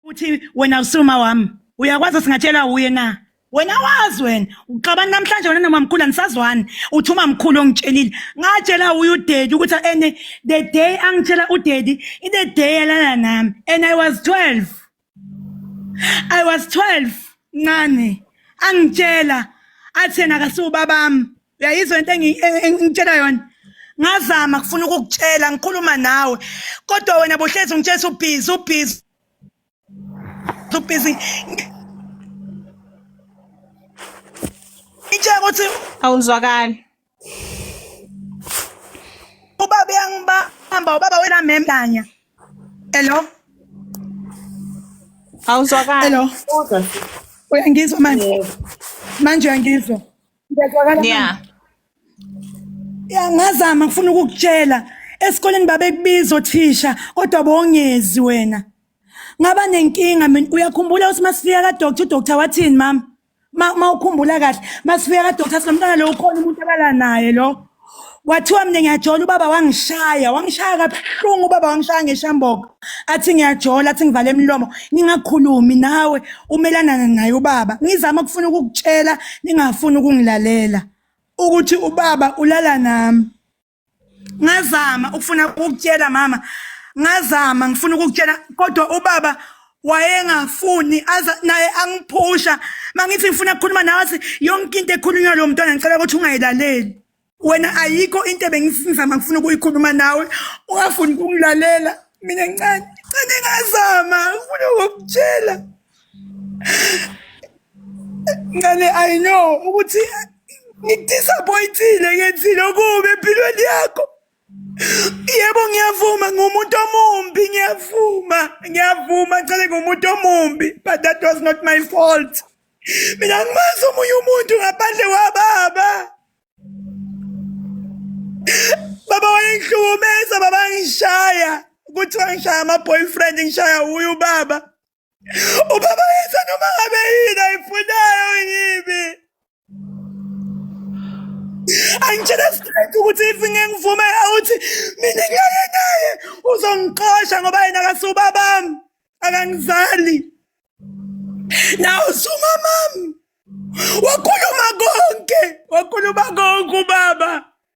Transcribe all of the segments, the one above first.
uthi wena usuma wami uyakwazi singatshelwa wuye na wena wazi wena uxabani namhlanje wena noma mkhulu anisazwani uthi uma mkhulu ongitshelile ngatshela uye udedi ukuthi ene the day angitshela udedi i the day yalala nami and i was 12 i was 12 ncane angitshela athi yena akasiwubabami uyayizwa into engitshela yona ngazama kufuna ukukutshela ngikhuluma nawe kodwa wena bohlezi ungitshela ubhizi ubhizi ubhizi ngitshela ukuthi awuzwakali ubaba uyangibamba ubaba wena memlanya hello awuzwakali hello uyangizwa manje manje uyangizwa Ngiyazwakala yeah ngazama ngifuna ukukutshela esikoleni babekubiza othisha kodwa bongezi wena ngaba nenkinga mina uyakhumbula ukuthi masifika kadoctor udoctor wathini mama ma ukhumbula kahle masifika kadoctor sinomntana lo ukhona umuntu abala naye lo kwathiwa mina ngiyajola ubaba wangishaya wangishaya kabuhlungu ubaba wangishaya ngeshamboka athi ngiyajola athi ngivale imilomo ningakhulumi nawe umelanana naye ubaba ngizama ukufuna ukukutshela ningafuni ukungilalela ukuthi ubaba ulala nami ngazama ukufuna ukukutshela mama ngazama ngifuna ukukutshela kodwa ubaba wayengafuni aza naye angiphusha mangithi ngifuna ukukhuluma nawe athi yonke into ekhulunywa lo mntwana ngicela ukuthi ungayilaleli wena ayikho into ebengizama ngifuna ukuyikhuluma nawe ungafuni ukungilalela mina ncane ncane ngazama ngifuna ukukutshela ncane i know ukuthi ngidisappointile ngenzile okubi empilweni yakho Yebo ngiyavuma ngumuntu omumbi ngiyavuma ngiyavuma cele ngumuntu omumbi but that was not my fault. Mina ngimazi omunye umuntu ngaphandle kwababa. Baba wayengihlukumeza baba ngishaya kuthiwa ngishaya ama boyfriend ngishaya uyu baba. Ubaba yenza noma ngabe yini ayifunayo yimi. Angitshela straight ukuthi if ngengivume awuthi mina ngeke naye uzongixosha ngoba yena akasubabami akangizali. Nawu sumamami. Wakhuluma konke, wakhuluma konke ubaba.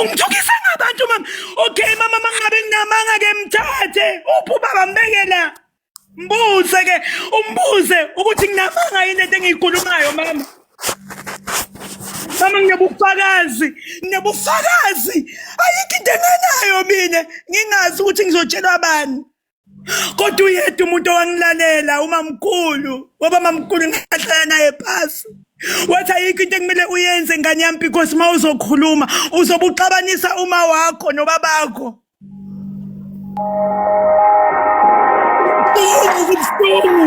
Ungithukisa ngabantu mama. Okay mama mangabe nginamanga ke mthathe. Uphi ubaba mbeke la? Mbuze ke, umbuze ukuthi nginamanga yini into engiyikhulumayo mama. Mama nginobufakazi, nginobufakazi. Ayikho into enganayo mina ngingazi ukuthi ngizotshelwa bani. kodwa uyedwa umuntu owangilalela umamkhulu waba mamkhulu ngahlala naye phasi wathi ayikho into ekumele uyenze ngane yami because uma uzokhuluma uzobe uxabanisa uma wakho nobabakho kubuhlungu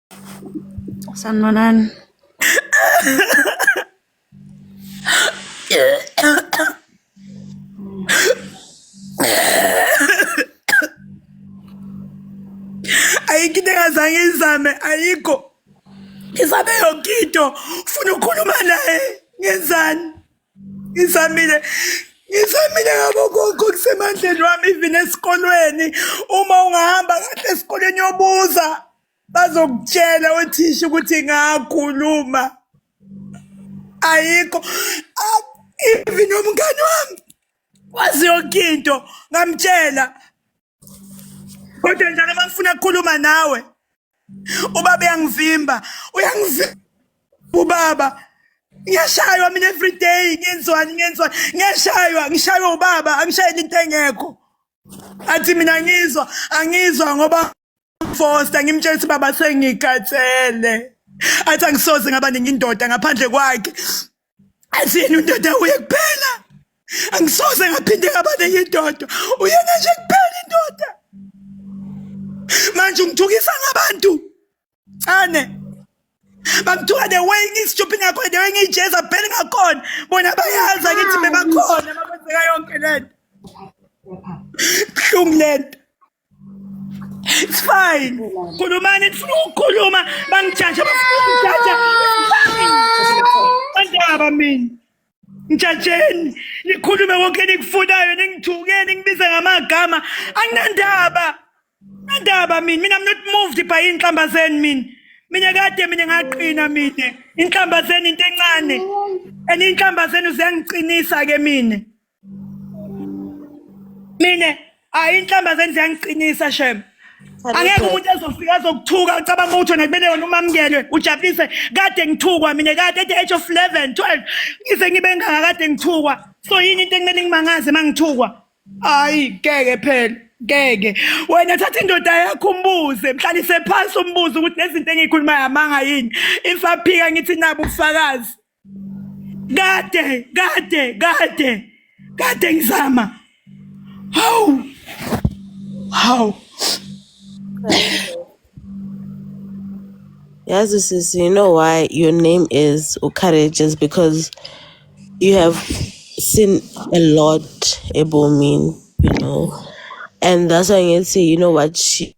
Sanibonani. ayikho into engazange izame ayikho ngizame yonke into ufuna ukukhuluma naye ngenzani ngizamile ngizamile ngabo konke okusemandleni wami even esikolweni uma ungahamba kahle esikolweni yobuza bazokutshela othisha ukuthi ngakhuluma ayikho Ah, even umngane wami wazi yonke into ngamtshela kodwa njalo uma ngifuna kukhuluma nawe ubaba uyangivimba uyangivimba ubaba ngiyashaywa mina everyday ngenzwani ngenzwani ngiyashaywa ngishaywa ubaba angishayeli into engekho athi mina ngizwa angizwa ngoba Foster ngimtshela ukuthi baba sengikhathele athi angisoze ngaba ningi indoda ngaphandle kwakhe athi yena undoda uye kuphela angisoze ngaphinde ngaba ningi indoda uyena nje kuphela indoda manje ungithukisa ngabantu ane bamthuka the way ngisijuphi ngakhona the way ngiyijeza phela ngakhona bona bayazi angithi bebakhona makwenzeka yonke lento buhlungu lento It's fine. Kulumani ndifuna ukukhuluma bangijaja bafuna ungijaja. Andaba mina. Ngijajeni nikhulume konke nikufunayo ningithuke ningibize ngamagama anginandaba. Andaba mina mina I'm not moved by inhlamba zenu mina. Mina kade mina ngaqina mina. Inhlamba zenu into encane. And inhlamba zenu ziyangiqinisa ke mina. mina hayi inhlamba zenze yangiqinisa shem angeke umuntu ezofika azokuthuka ucabanga ukuthi wena kumele wena umamukele ujabulise kade ngithukwa mina kade at the age of 11 12 ngize ngibe ngaka kade ngithukwa so yini into ekumele ngimangaze uma ngithukwa hayi ngeke phela ngeke wena thatha indoda yakho umbuze mhlalise phansi umbuze ukuthi nezinto engiyikhulumayo amanga yini ifaphika ngithi nabo ubufakazi kade kade kade kade ngizama hawu hawu Yazi sis, you know why your name is Ukarage is because you have seen a lot ebomini, you know. And that's why I can say, you know what, she,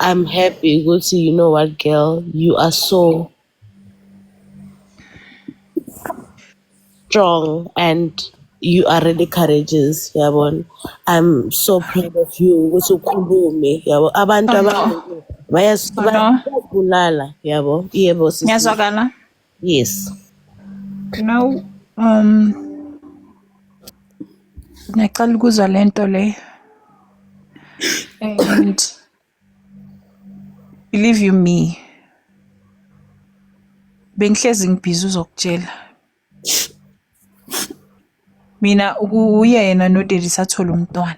I'm happy ukuthi you know what girl you are so strong and you are really courageous yabona I'm so proud of you ukuthi ukhulume yabo abantu Oh no, abantu oh no. bayasibulala yabo yebo sisi Ngiyazwakala. yes now um ngiyaqala ukuzwa le nto le and believe you me bengihlezi ngibhizi uzokutshela Mina uyena noDeli sathola umntwana.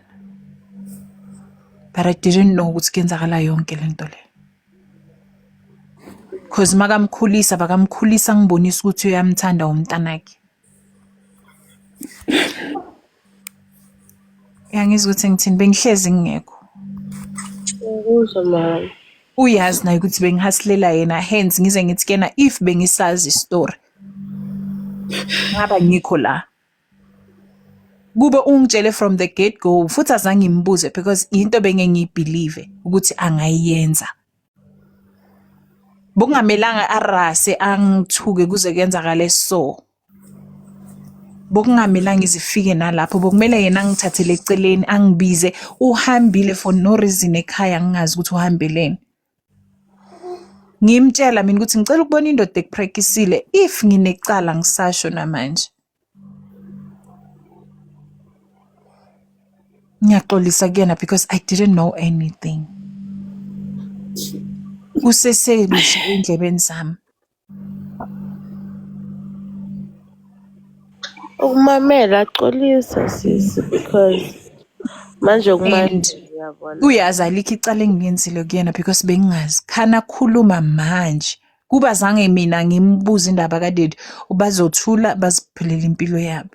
But I didn't know ukuthi kuyenzakala yonke le nto le. Cause makamkhulisa bakamkhulisa ngibonisa ukuthi uyamthanda umntanakhe. Uyangizwa ukuthi ngithini bengihlezi ngingekho. Ngikuzwa mama. Uyazi naye ukuthi bengihasilela yena hence ngize ngithi kuyena if bengisazi istory ngaba ngikho la kube ungitshele from the get go futhi azange ngimbuze because into benge ngiyibelieve ukuthi angayenza bokungamelanga arase angithuke kuze kuyenzakale so bokungamelanga izifike nalapho bokumele yena angithathele eceleni angibize uhambile for no reason ekhaya ngingazi ukuthi uhambeleni ngimtshela mina ukuthi ngicela ukubona indoda ekuprekisile if nginecala ngisasho namanje ngiyaxolisa kuyena because i didn't know anything kusesebusha endlebeni zami Ukumamela xolisa sisi because manje And kumanje uyabona. uyazi alikho icala engingenzile kuyena because bengingazi khani akhuluma manje kuba zange mina ngimbuze indaba kadidi ubazothula baziphilela impilo yabo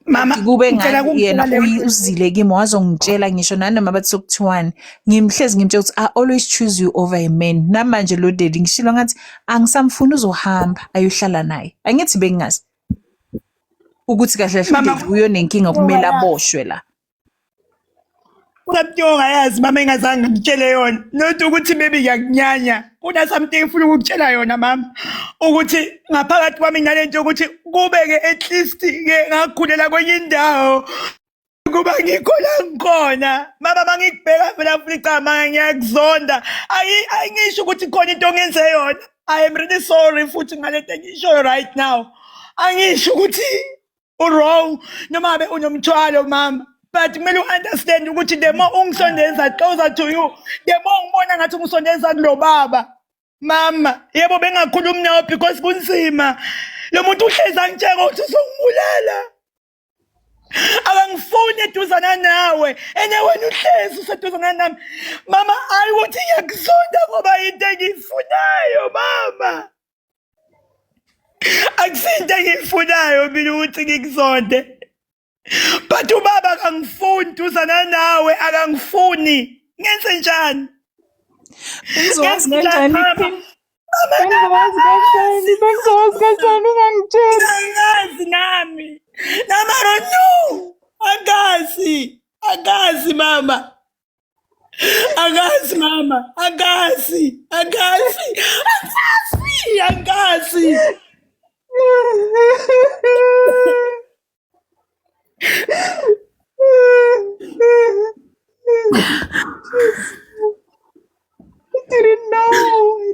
mama kube ngathi yena uzile kimi wazongitshela ngisho nanoma bathi sokuthiwani ngimhlezi ngimtshela ukuthi i always choose you over a man namanje lo daddy ngishilo ngathi angisamfuni uzohamba ayohlala naye angithi bengingazi ukuthi kahle kahle uyonenkinga kumele aboshwe la Usathi ongayazi mama engazange ngitshele yona not ukuthi maybe ngiyakunyanya kuna something ngifuna ukukutshela yona mama ukuthi ngaphakathi kwami nale nto yokuthi kube-ke at least-ke ngakhulela kwenye indawo kuba ngikho la ngikhona mama uma ngikubheka vela futhi cama ngiyakuzonda ayingisho ukuthi khona into ongenze yona i am really sorry futhi ngalento engishoyo right now angisho ukuthi uwrong noma ngabe unomthwalo mama but kumele u-understand ukuthi the more ungisondeza closer to you the more ngibona ngathi ungisondeza kulo baba mama yebo bengakhulumi nawo because kunzima lo muntu uhlezi angitsheka ukuthi uzongibulala akangifuni eduzana nawe ene wena uhlezi useduzana nami mama ayi ukuthi ngiyakuzonda ngoba yinto engiyifunayo mama akusinto engiyifunayo mina ukuthi ngikuzonde but ubaba akangifuni duzana nawe akangifuni ngenze njani Bengizowazi kanjani? Bengizowazi kanjani? Bengizowazi kanjani ungangitsheli? angazi nami namaro no angazi angazi mama Angazi mama, angazi, angazi, angazi, angazi. I didn't know.